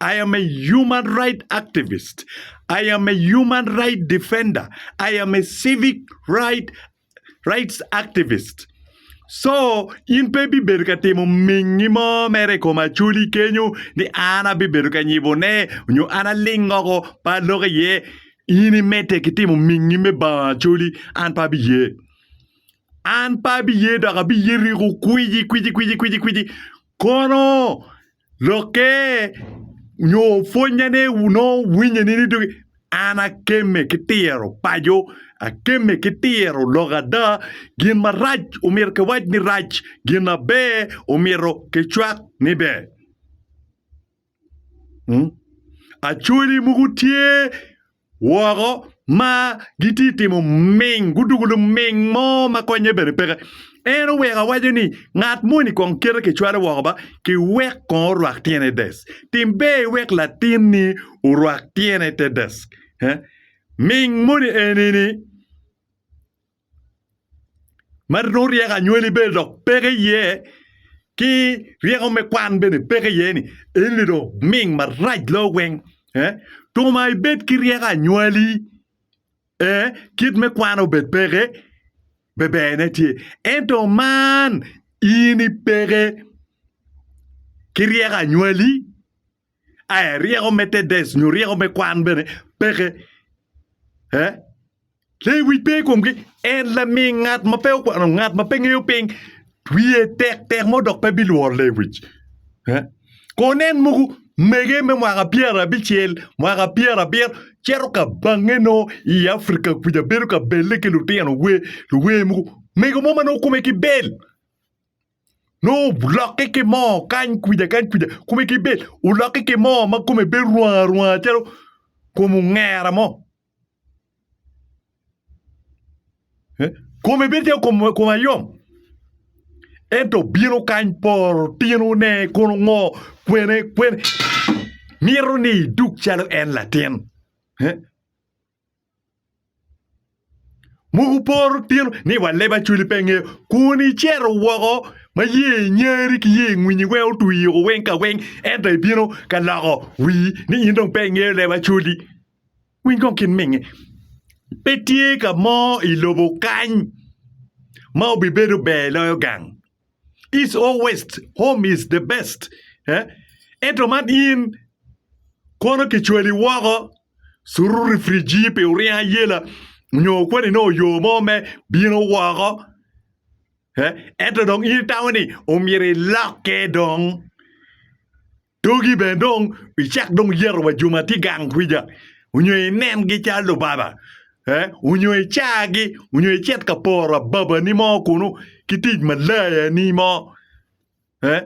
I am a human right activist, I am a human right defender, I am a civic right rights activist so in pe ibibedo ka timo mingi mo mere i kom acholi kenyo ni an abibedo ka nyibone nyo an aling woko pe alok iye in imedde ki timo mingi me bango acholi an pe abiye. An pe abiye dok abiye riko kwici kwici kwici kwici kwici kono lokke nyo pwonnyane nongo winye nini dog an akemme ki tiro paco akemme ki tiro lok ada gin marac omyero kiwac ni rac gin maber omyero kicwak ni ber. Acholi mogo tye woko ma gitye ka timo ming gudwogo luming mo ma konye bene peke en oweko awaco ni ngat moni kong kite kicwalo woko ba ki wek kong orwak tyene i dec tim ber iwek latinni orwak tyene i te dec ming moni eni ni ma nongo ryeko anywali bene dok peke iye ki ryeko me kwan bene peke iye ni en ni dong ming marac loyo weng ee tung ma ibed ki ryeko anywali ee kit me kwan obed peke beber ne tye ento man in ipeke ki ryeko anywali Aya, ryeko me Tedes nyo ryeko me kwan bene peke. Eh? Lewic pe i komgi. En laming ngat ma pe okwano, ngat ma pe ngeyo piny. Wiye tek tek mo dok pe bilworo lewic. Eh? Ko nen mogo mege me mwaka pyerabicel, mwaka pyerabiro, cito ka bange no i Afrika kuca bedo ka belle ki lutino wer, luwer mogo. Mego mo ma nongo kome ki bel. Nongo wulokke ki moo kany kwija kany kwija kome ki bed wulokke ki moo ma kome bed rwanga rwanga calo kom ongera mo. Eh, Kome bed calo kom kom ayom. Ento bino kany poro tinone kono ngo kwene kwene mito ni iduk calo en latin. Eh, Mogo poro tino ni wa leb acwali pe ngeyo kun icito woko ma ye inyari ki ye ingwinyi weng otwi oko weng ka weng ento ibino ka loko wii ni in dong pe ingeyo leb acwali winy kong kin minge pe tye ka mo ilobo kany ma obibedo ber loyo gang. East or west, home is the best. Eh? Ento man in kono kicwali woko suru rifriji pi oryeng ayela nyo kweni nongo oyo mo me bino woko. Eh? Ento dong in itamo ni omyero ilokke dong. Togi bene dong icak dong yeto wa jo ma tye gang kwica onyo inengi calo lubaba, ee, onyo icagi, onyo icit ka poro ababani mo kunu ki tic malayani mo, ee,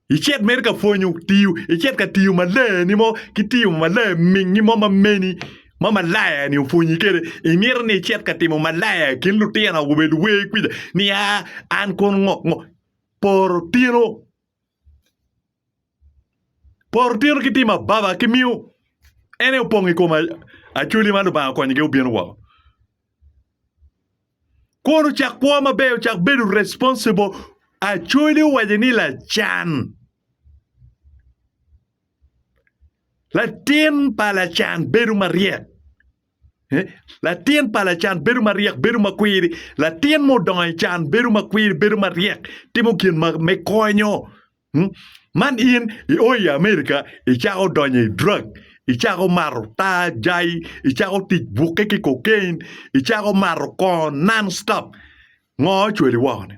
icit mere ka pwonyo tiyo, icit ka tiyo malayani mo ki tiyo malaya mingi mo ma meni ma malaya-ni opwonyi kwede. Imito ni icit ka timo malaya i kin lutino awobe luwer kwica ni aa an kono ngo, ngo, poro tino. Poro tito ki tim ababa kimiyo en aye opong i kom Acholi ma Lubanga okonyo gi obino woko. Kwon ocak kwo maber ocak bedo responsible Acholi owaco ni lacan latin pa lacan bedo maryek. Latin pa lacan bedo maryek, bedo makwiri. Latin ma odongo i can bedo makwiri, bedo maryek, timo gin ma me konyo. Hmm? Man in i o i Amerika, icako donyo i drug, icako mato taa, jai, icako tic bukke ki cocaine, icako mato kongo non stop. Ngo ocwali woko-ni?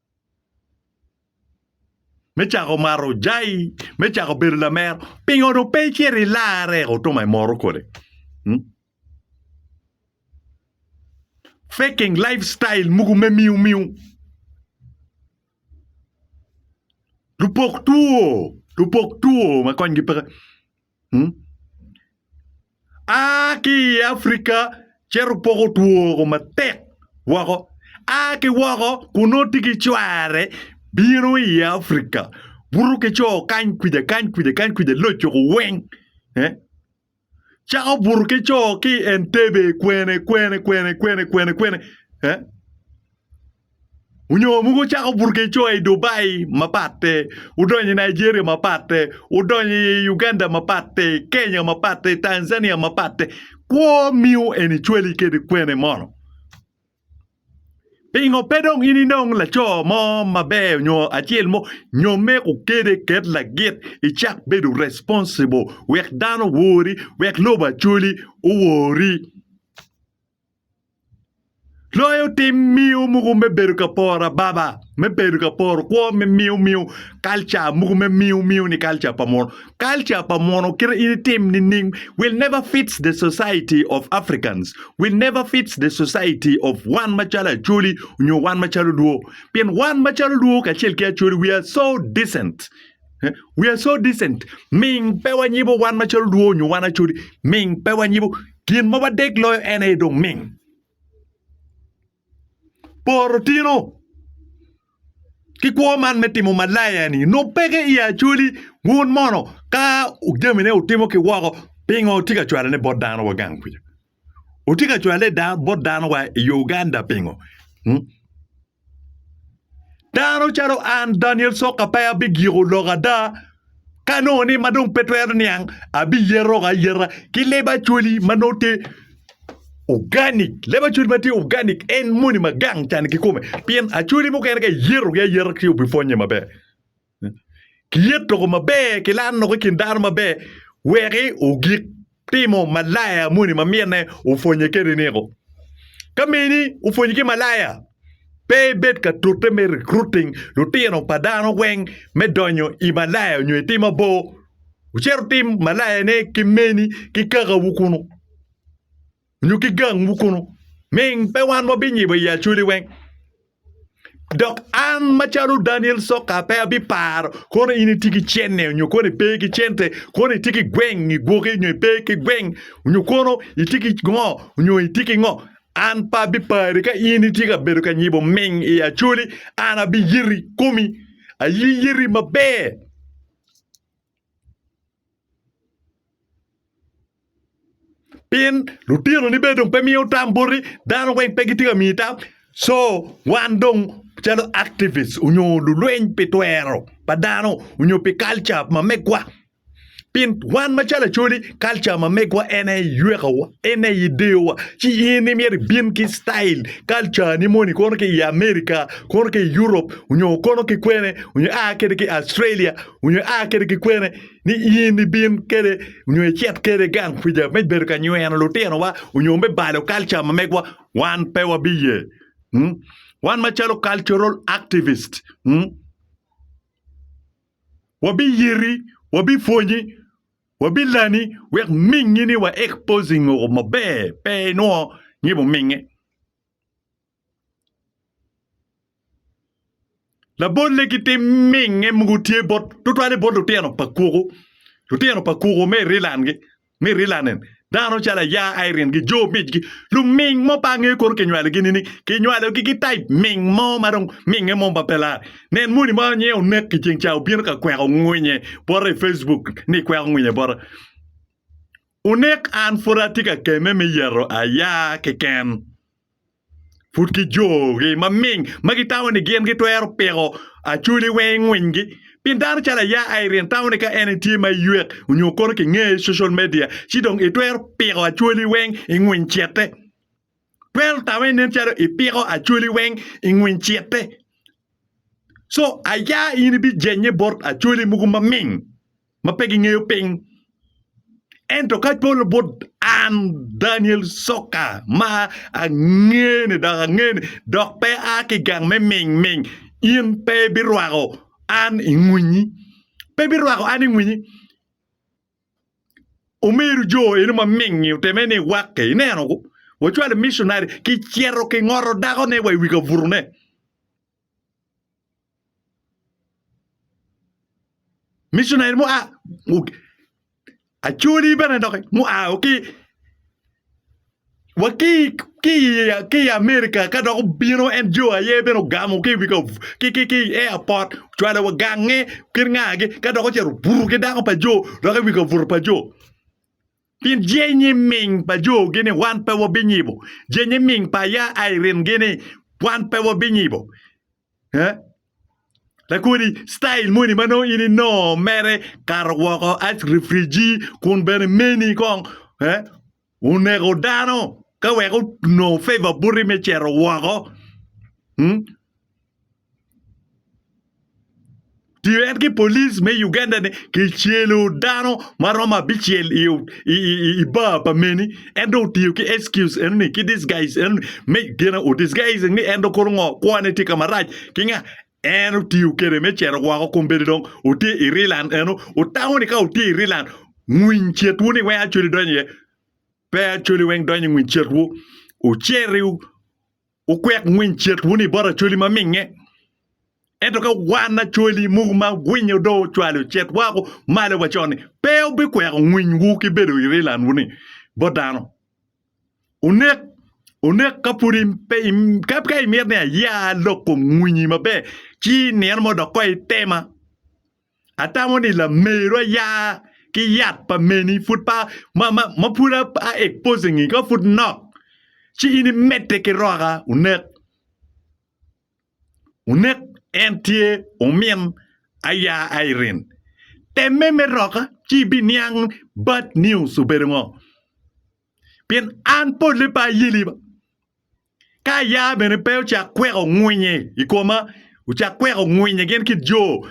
me cako mato jai, me cako bedo lamer, pingo dong pe icit ilarre eko otuma imoro kodi? Hmm? Faking life style mugu me miu miu. Lupok two, lupok two ma konygi pe A ki i Afrika cito poko twoko matek woko. A ki woko kun nongo tye ki cware bino i Afrika buto ki co kany kwija kany kwija kany kwija loco ko weng. Cako buto ki co ki i Entebbe kwene kwene kwene kwene kwene kwene. Onyo mogo wucako burgecoa i Dubai mapatte, wudonyo i Nigeria mapatte, wudonyo i Uganda mapatte, i Kenya mapatte, i Tanzania mapatte, kwo miyo en icwali kede kwene mono? Pingo pe dong in inong laco mo maber onyo acel mo nyome kukede ket lagit icak bedo responsible wek dano owori, wek lobo acoli owori? Loyo tim miyo mogo me bedo ka poro ababa me bedo ka poro kwo me miyo miyo kalca mogo me miyo miyo ni kalca pa muno kalca pa muno kite in itim nining will never fits the society of Africans will never fits the society of wan macalo Acholi nyo wan macalo Luo pien wan macalo Luo kacel ki Acholi we are so decent we are so decent ming pe wanyibo wan macalo luo onyo wan acoli ming pe wanyibo gin ma wadek loyo en aye dong ming poro tino ki kwo man me timo malaya ni nongo peke i acoli wun mono ka jamine wutimo ki woko pingo tye ka cwalone bot dano wa gang kwica Otye ka cwale bot dano wa i Uganda pingo? Hmm? Dano calo an Daniel Soka pe abigiko lok ada ka nongo ni ma dong pe twero niang abiyero ka yera ki leba acwali ma nongo tye organic leba acwali ma tye organic en moni ma gang can ki kome pien acwali mukene ka iyerogi ayera ci obipwonye maber Kilyet loko maber ki laro loko i kin dano maber weki ogik timo malaya moni ma minne opwonye kede ni ko. Ka mini opwonye ki malaya pe ibed ka tute me recruiting lutino pa dano weng me donyo i malaya onyo i tim mabor. Wucit wutim malayane ki meni ki kakawu kunu. nyo ki gangwu kunu, ming pe wan wabinyibo i acoli weng. Dok an macalo Daniel Soka pe abiparo kono in itye ki cenne nyo kono ipe ki cente, kono itye ki gweng i gwoki nyo ipe ki gweng, nyo kono itye ki ngo nyo itye ki ngo. An pe abipari ka in itye ka bedo ka nyibo ming i acoli, an abiyiti komi, ayiyiti maber. pien lutinoni bene dong pe miyo tam boti dano weng pe gitye ka miyi tam co wan dong calo activist onyo lulweny pi twero pa dano onyo pi kalca ma megwa pien wan macalo acholi kalca ma megwa en aye ywekowa en aye ideyowa ci in imyero ibin ki citail kalcani moni kono ki i America kono ki i Europe onyo kono ki kwene onyo ia kede ki i Australia onyo ia kede ki kwene. ni in ibin kede nyo icit kede gang kwica me bedo ka nyweno lutinowa onyo me balo kalca ma megwa, wan pe wabiye. Mm? Wan macalo cultural activist, mm? wabiyiti, wabipwonyi, wabilani wek mingi ni wa exposing o maber pe inwo ngibo mingi. Labolle ki tim minge mogo tye bot tutwale bot lutino pa kwogo lutino pa kwogo me Ireland-ngi me Ireland-ni dano calo aya Irene ki jo migi luming mo pe angeyo kono kinywalogi nining? Kinywalogi ki taip ming mo ma dong minge mo ma pe lar. Nen moni mo nyo onek i ceng ca obino ka kweko ngwinye bota i Facebook ni ikweko ngwinye bota. Onek an pud atye ka kemme me yeto aya keken. pud ki jogi maming ma gitamo ni gin gitwero piko acoli weng i ngwinygi. Pien dano calo aya Irene tamo ni ka en tye ma ywek onyo kono ki ngeye i social media ci dong itwero piko acoli weng i ngwiny cete. Twero tame nen calo ipiko acoli weng i ngwiny cete. Co aya in ibijenye bot acoli mogo maming. ma pe gingeyo piny. Ento ka polo bot an Daniel Soka ma angene dok angene dok pe a ki gang me ming ming in pe birwako an i ngwinyi. Pe birwako an i ngwinyi. Omeru jo eno ma mingi oteme ni wakke ineno wacwalo missionary ki cito ki ngoto dako ne wa i wi kaburune. Missionary mua acholi bene doki mua wa ki wa ki ki ki i America ka dok obino en jo aye bene ogamo ki wi ki ki ki i airport ocwalo wa gange kit ngagi ka dok ocito obuto ki dako pa jo doki i wi kabuto pa jo Pien jenyi ming pa jogi ni wan pe wabinyibo, jenyi ming pa aya Irene-gi ni wan pe wabinyibo. Eh? Lakodi, style moni ma nongo in inongo mere kato woko ice refriji kun bene meni kong eh, oneko dano ka wek onongo favor buti me cito woko. Hmm? Tyen ki police me Uganda ni kicelo dano ma romo abicel i, i, i, i- i bar pa meni en dong otiyo ki excuse eno ni ki disguise eno ni me gin o disguise ni en dong kono ngo kwane tye ka marac ki nga en otiyo kede me cito woko kun bedi dong otye i Rilan eno otango ni ka otye i Rilan ngwiny cetwu ni weng Acholi donyo iye pe Acholi weng donyo i ngwiny cetwu oceriw Wukwek ngwiny cit wunu i bot Acholi ma minge. Ento ka wan Acholi muku ma gwinyo do ocwalo cit woko malo wa con-ni, pe wubikweko ngwinywu ki bedo i rilanwu ni bot dano. Wunek, wunek ka pud im, pe im, ka, ka imito ni aya lok kom ngwinyi maber, ci i nino mo dok koi itema. Atamo ni lameru aya ki yat pa meni pud pa ma ma, ma pud a, a exposing i ka pud nok ci in imedde ki roka unek unek en tye umin aya Irene temme me roka ci ibiniang bad news obedo ngo pien an pole pe ayeli ba Ka aya bene pe ocak kweko ngwinye i koma, ocak kweko ngwinye gin kit jo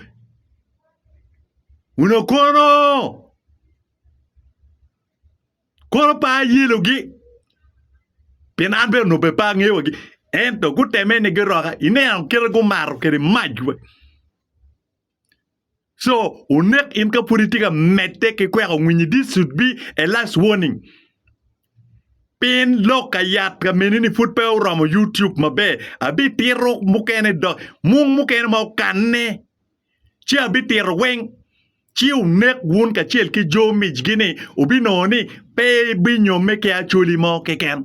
onongo kono, kono pe ayelogi, pien an bene onongo bene pe angeyo wagi. Ento guteme ni giroka, ineno kite gumato kwede mac. Co, wunek in ka pud itye ka medde ki kweko winyi. This should be a last warning. Pien lok ka yat ka meni-ni pud pe oromo YouTube maber. Abitito mukene dok mung mukene ma okanne, ci abitito weng. Ci wunek wun kacel ki jo micgi-ni, wubinongo ni pe ibinyomme ki acholi mo keken.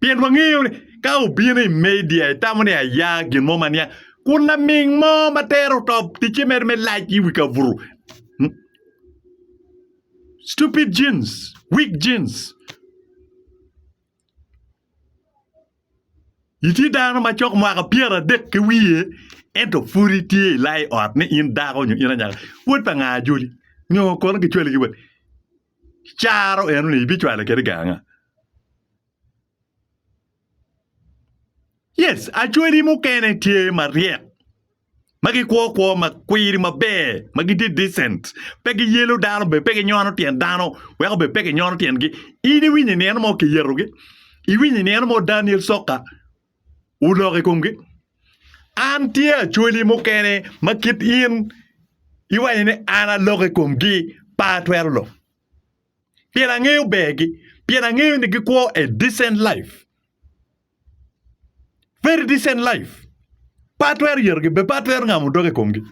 Pien wangeyo ni ka wubino i media itamo ni aya gin mo ma niang, kun laming mo ma tero oto ticce mere me lac i wi kaburu. Hmm? Stupid jeans, weak jeans. Itye dano ma cok mwaka adek ki wiye ento pud itye ilai ot ni in dako nyo in anyaka. Wod pa nga ajoli? Nyo kono gicwali ki wat? caro eno-ni ibicwale kede ganga. Yes, acwedi mukene tye maryek ma gikwo kwo ma kwiri maber ma gitye decent pe giyelo dano bene pe ginyono tyen dano weko bene pe ginyono tyengi in iwinyo i nino mo kiyetogi iwinyo i nino mo Daniel Soka olok i komgi. An tye acwali mukene ma kit in iwaco ni an alok i komgi, pe atwero lok. Pien angeyo bergi, pien angeyo ni gikwo a decent life. Very decent life. Pe atwero yetogi, be pe atwero ngamo doga i komgi.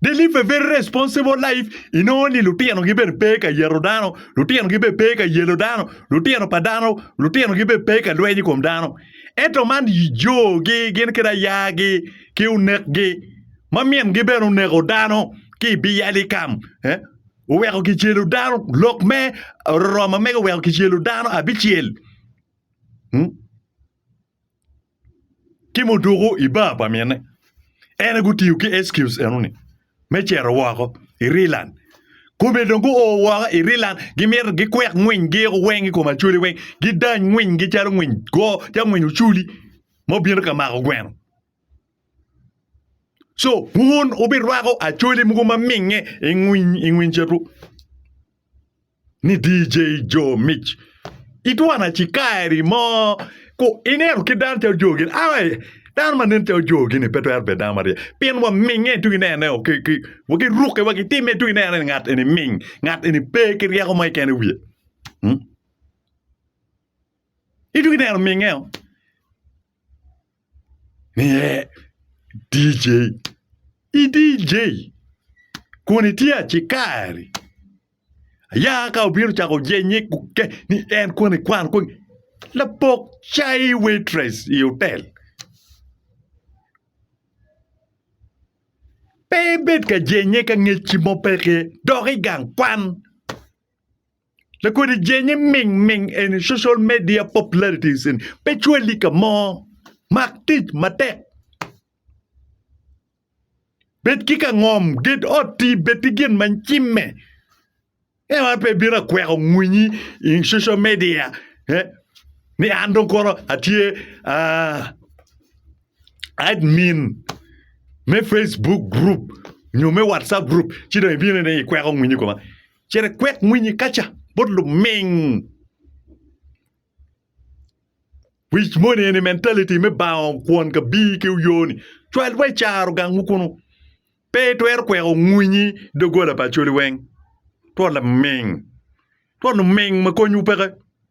They live a very responsible life. Inongo ni lutino gi bene pe ka yeto dano, lutino gi bene pe ka yelo dano, lutino pa dano, lutino gi bene pe ka lweny i kom dano. Eto man jo gi gin kede aya gi ki onek gi ma min gi bene oneko dano ki i bi yali kam eh oweko ki celo dano lok me Roroma mege oweko ki celo dano abicel. ci mudoko i bar pa mine en aye gutiyo ki excuse enoni me cito woko i Ireland kome dong guo woko i Ireland gimito gikwek ngwiny giyiko weng i kom Acholi weng gidany ngwiny gi calo ngwiny goo calo ngwiny Ocoli ma obino ka mako gweno so wun wubirwako Acholi mogo ma minge i ngwiny cito. ni DJ Joe Mic itwana ci kaeri mo ku ineno ki dano calo Joe gini ai dano ma nen calo Joe gini pe twero bedo dano maryek pien waminge tung inene o ki ki wa ki rukke wa ki timme tung inene ni ngat eni ming ngat eni pe ki ryeko mo keken i wiye mm itung ineno minge o Niye, DJ, i DJ kun itye acikari. Aya ka obino cako jenye kuke ni en koni kwan koni lapok cai waitress i otel. Pe ibed ka jenye ka ngecci mo peke dok i gang kwan. Lakodi jenge ming ming eni social media popularities eni pe cwali ka mo. Mak tic matek. Bed ki ka ngom, ged otti, bed ki gin ma cimme. En wan pe bino akweko ngwinyi i social media eh, ni an dong kono atye ah, admin me Facebook group nyo me WhatsApp group ci dong ibino ni ikweko ngwinyi koma. Cere kwek mwinyi kaca bot luming. Wic moni eni mentality me bango kwon ka bii ki uyoni. Cwal wa icaro gang wu kunu. Pe itwero kweko ngwinyi dogola pa acholi weng. Twol laming. Twol luming ma kony wu peke.